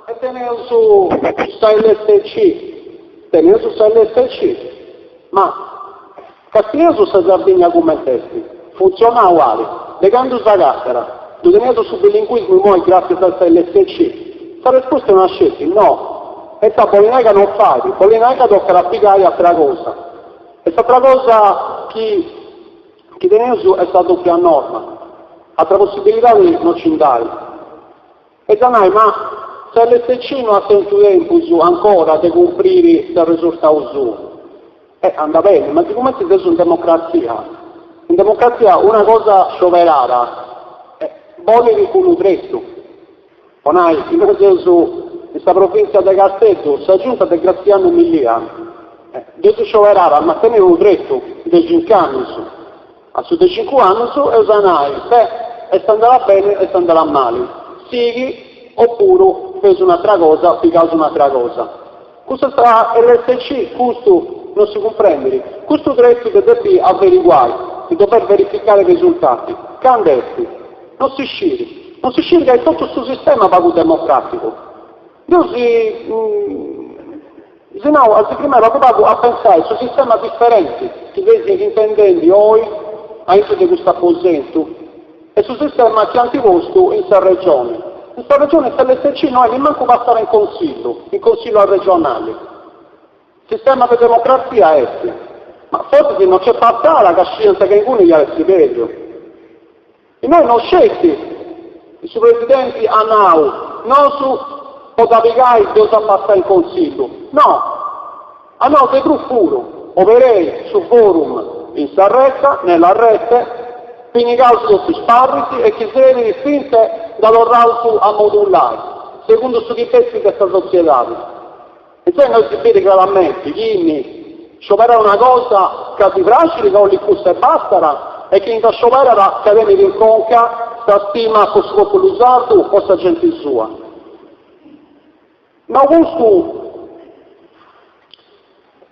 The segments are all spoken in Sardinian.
E teneus sa lsc, teneus sa lsc, ma castieus sa Sardigna cument'est, funtzionau at, de candu sa càtedra, ddu teneus su bilinguismu imoi gràtzias a sa lsc? Sa resposta est una sceti, no, ita bolit nai ca non fait, bolit nai ca tocat a pigai atera cosa, e s'atera cosa chi Chi teneus est sa dòpia norma, atra possibilidadi no ci nd'at. Eis a nai, ma sa LSC no at tentu tempus ancora de cumpriri s'arresurtau suu. E andat beni, ma sigumenti seus in democratzia, in democratzia una cosa scioberada bolit unu tretu. Po nai, innoi seus in sa provìntzia de Casteddu, sa giunta de Grazianu Milia dd'eus scioberada, at a mantenni unu tretu de cincu annus. A su de cincu annus eus a nai, beh, est andada beni, est andada mali, sighi, opuru feus un'atra cosa, pigaus un'atra cosa. Custu a sa LSC Custu non si cumprendit? Custu tretu de depi averiguai, de dover verificare i resultati, candu est? Non si scit. Non si scit ca est totu su sistema pagu democraticu. Deu si si nau a si firmai pagu pagu a pensai su sistema differenti chi seis intendendi oi aintu de custu aposentu. E su sistema chi ant postu in sa Regione. In sa Regione sa LSC no est nemmancu passada in Consillu, in Consillu arregionali. Sistema de democratzia est. Ma forsis no nc'est passada ca sciant ca inguni iat essi bellu. Innoi no sceti su Presidenti at nau, nosu po dda pigai dd'eus a passai in Consillu. No! Ma no, de prus puru, obereus su forum in sa retza, nella rete, pinigaus totu is parris e chi serbit fintzas dda torraus a modulai, segundu su chi bessit de sa sotziedadi. Intzà innoi si biri craramenti chini scioberat una cosa ca ddi praxiri ca 'olit cussa e bastara e chini dda scioberat ca tenit in conca sa stima po su populu sardu, po sa genti sua. Ma custu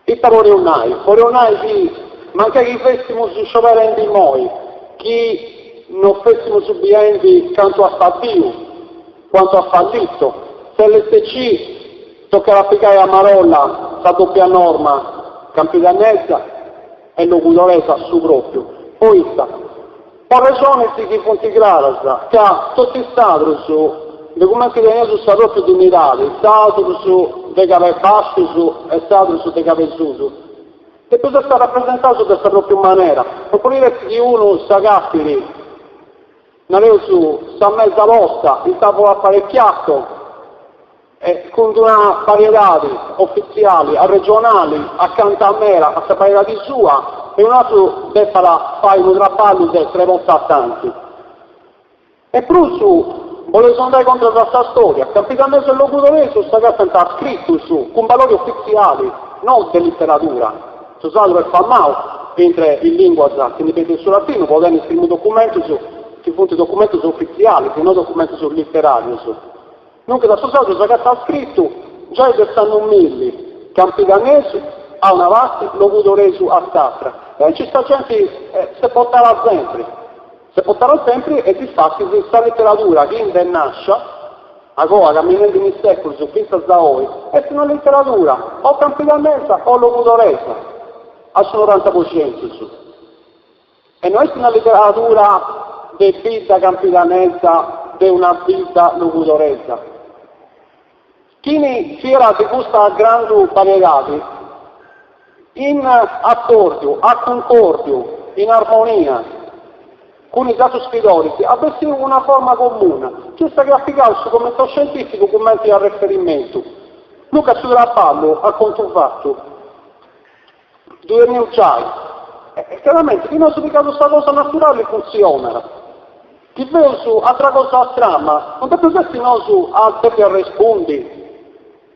ita podeus nai? Podeus nai chi mancai chi fèssimus scioberende immoi, chi no fèssimus biendi cantu at faddiu, quanto ha fallito, s'LSC tocat a pigai a marolla sa dòpia norma campidannesa e logudoresa a su pròpiu, poita, Arrexonis chi funt craras, ca totu is sardus, de cumenti teneus sa pròpiu dinnidadi, sardus de Cabu 'e Bàsciu e sardus de Cabu 'e Susu, depeus essi rapresentaus de sa pròpiu manera, no podit essi chi unu s'agatit, nareus, sa mesa posta, il tavolo apparecchiato, Est cun d'una bariedadi ofitziali arregionali, acanta meda a sa bariedadi sua, e unu atru depat fai unu traballu de tres bortas tanti. E prus boleus andai contras a sa storia, campidanesu e logudoresu s'agatant a scritus cun balori ofitziali, no de literadura. Su sardu est famau intre is linguas chi ndi benint de su latinu po tenni is primus documentus chi funt documentus ofitzialis e no documentus literarius. Duncas su sardu s'agatat scritu, giai de s'annu milli, campidanesu a una parti, logudoresu a s'atra. E aici sa genti s'est portada sempri, s'est portada sempri e difatis sa literadura chi nd'est nàscia agoa, camminendi in is sèculus fintzas a oi, est una literadura o campidanesa o logudoresa a su noranta po centus. E no est una literadura de bidda campidanesa, de una bidda logudoresa. Chini scrierat custa grandu bariedadi, in accordiu, a cuncòrdiu, in armonia cun is atrus scridoris, at bessiu una forma comuna, chi est sa chi at pigau su comitau scientificu cumenti arreferimentu. Duncas su traballu, a contu fatu. Ddu teneus giai. E craramenti chi nosu pigaus sa cosa naturali funtzionat. Chi feus atra cosa strana, non depeus essi nosu a depi arrespundi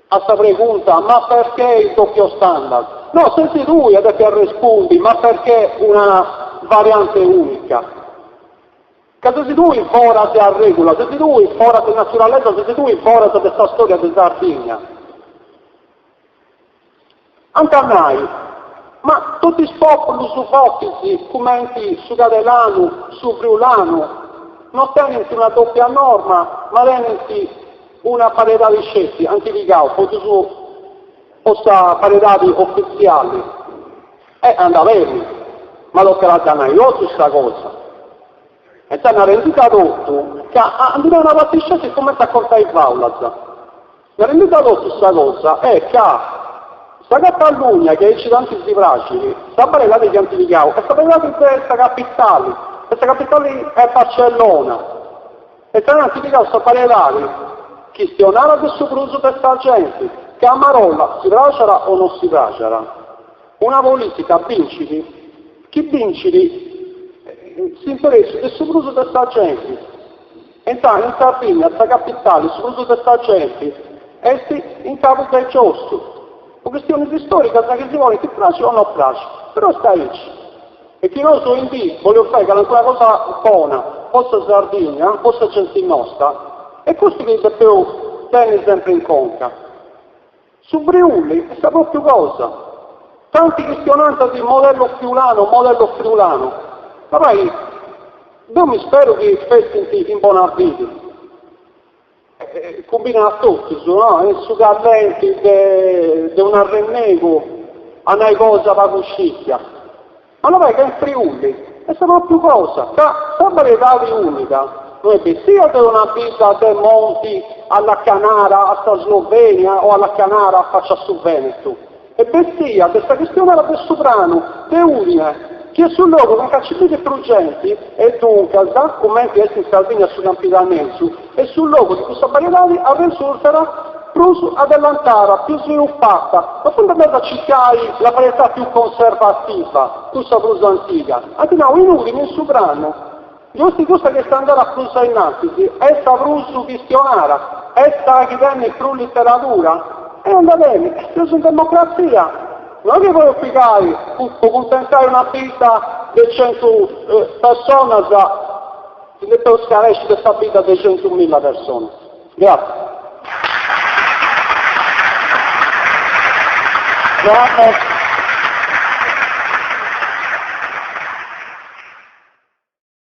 a sa pregunta ma perchè il doppio standard? No, sesi tui a depi arrespundi ma perchè una variante unica? Ca sesi tui foras de arregula, sesi tui foras de naturalesa, sesi tui foras de sa storia de Sardigna. Ant a nai, Ma totu is pòpulus fortis cumenti su cadelanu, su friulanu, no tenint una dòpia norma ma tenint una bariedadi sceti, ant pigau po totus po sa bariedadi ofitziali. E anda beni, ma tocat a dda nai totu sa cosa. E dd'ant rendida totu ca a ndi nai una parti sceti cumenti a contai fàulas. Narende totu sa cosa est ca sa Catalugna chi aici tanti si praxit, sa bariedadi chi ant pigau est sa bariedadi de sa capitali, e sa capitali est Barcellona, e ant pigau sa bariedadi chistionada de su prus de sa genti, ca a marolla si praxat o no si praxat, una politica bincit chi bincit s'interessu de su prus de sa genti. Intzanu in Sardigna sa capitali su prus de sa genti est in Cabu de Giossu, po chistionis istòricas chi si podint praxi o no praxi, però est aici. E chi nosu oindì boleus fai calincuna cosa bona po sa Sardigna, po sa genti nosta, est custu chi depeus tenni sempri in conca. Su Friuli est sa propriu cosa. Tanti chistionant de modello friulano o modello friulano. Ma pai, deu mi speru chi fessint in bona fidi. Cumbinat a totus, no? Est su callenti de, de un'arrennegu a nai cosa pagu scìtia. Ma ca in Friuli, est sa pròpiu cosa, ca sa bariedadi umpada no est bènnia de una bidda de monti allacanada a sa Slovenia o allacanada a facci a su Vènetu, est bènnia de sa chistionada de su pranu de Udine, chi est su logu anca nci bivit prus genti e duncas, cumenti est in Sardigna su Campidanesu, E su logu de cussa bariedadi est arresurtada prus adellantada, pius sviluppata, no funt andaus a circai la varietà più conservativa, cussa prus antiga, ant nau in Ùdini in su pranu, giusti cussa chi est andada prus ainnantis, est sa prus chistionada, est sa chi tenit prus literadura, e andat beni, seus in democratzia, no est chi podis pigai po cuntentai una bidda de centu personas, Ti depeus scarèsci de sa bidda de centu milla personas. Gràtzias.